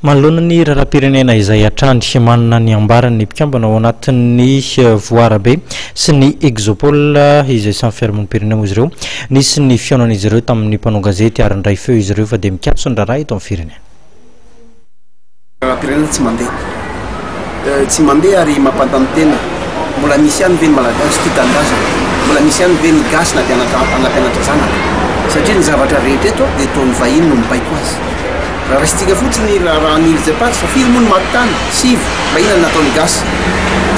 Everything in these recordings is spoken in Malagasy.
Manoloana ny raharaham-pirenena izay hatrany, manana ny ambarany ny mpikambana ao anatin'ny Voarabe sy ny Exopole izay samy fiarahamonim-pirenena moa izy ireo. Nisy ny fihaonan'izy ireo tamin'ny mpanao gazety ary nandray feo izy ireo fa dia mikatso ny raharaha eto amin'ny firenena. Raharaham-pirenena tsy mandeha. tsy mandeha ary mampanontany tena, mbola misy ihany ve ny Malagasy tia tanindrazana? Mbola misy ihany ve ny gasy na dia anampianatra zanaka? Satria ny zavatra rehetra eto dia toa ny vahiny no mibaiko azy. Raha raisintsika fotsiny ny raharahan'ny Îles Eparses fa firy moa ny maty tany? Sivy. Fa inona no nataon'ny gasy?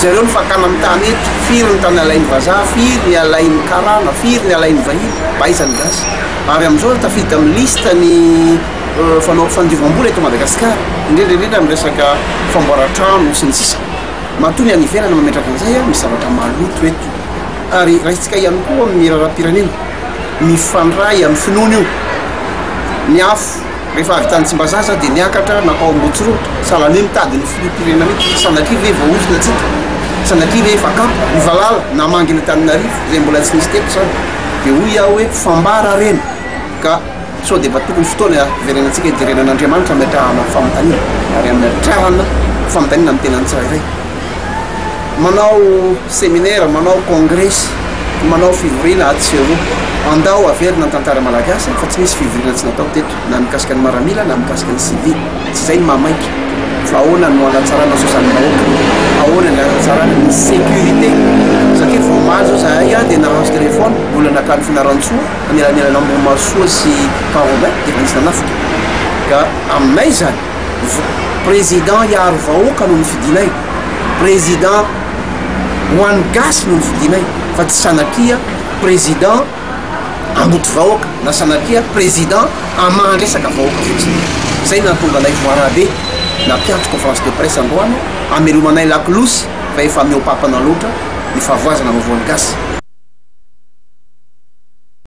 Jereo ny fakana amin'ny tany eto, firy ny tany alain'ny vazaha, firy ny alain'ny karana, firy ny alain'ny vahiny? Mba aiza ny gasy? Ary amin'izao tafiditra amin'ny liste ny. Fanao fandiovambola eto Madagasikara, indrindra indrindra amin'ny resaka famboaran-trano sy ny sisa. Matoa ny any ivelany mametraka an'izay, misy zavatra maloto eto. Ary raisintsika ihany koa amin'ny raharaham-pirenena, mifandray amin'ny finoana io. Ny afo rehefa avy tany Tsimbazaza dia niakatra nankao Ambohitsoroa, sahala an'io mitady ny filoham-pirenena io. Sanatria ve voaozona antsika? Sanatria ve efa akama? Ny valala namangy ny Antananarivo, izay mbola tsy nisy teto izany, dia hoy aho hoe fambara harena ka. Sao dia mba tokony fotoana hiverenantsika hijerena an'Andriamanitra hametrahana ny fanontaniana ary hametrahana fanontaniana amin'ny tenany tsirairay. Manao seminera, manao kongresy, manao fivoriana atsy sy eroa. Andao averina ny tantara malagasy fa tsy nisy fivoriana tsy natao teto na mikasika ny maramila na mikasika ny sivily. Tsy izay ny maha maika fa ahoana no hanatsarana ny sosialin'ny vahoaka, ahoana ny hanatsarana ny sécurité satria vao omaly izao izahay dia nahazo téléphone mbola nankany Fianarantsoa. Elanelana Ambohimahasoa sy Farombe efa nisy nanafika ka aminay izany président hiaro vahoaka no nifidinay, président ho an'ny gasy no nifidinay fa tsy sanatria président hamboty vahoaka na sanatria président hamaha resaka vahoaka fotsiny. Izay no nahatonga anay voarabe na mpiantso conférence de presse androany hamelomanay lakolosy fa efa mihoa-papana loatra ny fahavoazana vaovaon'ny gasy.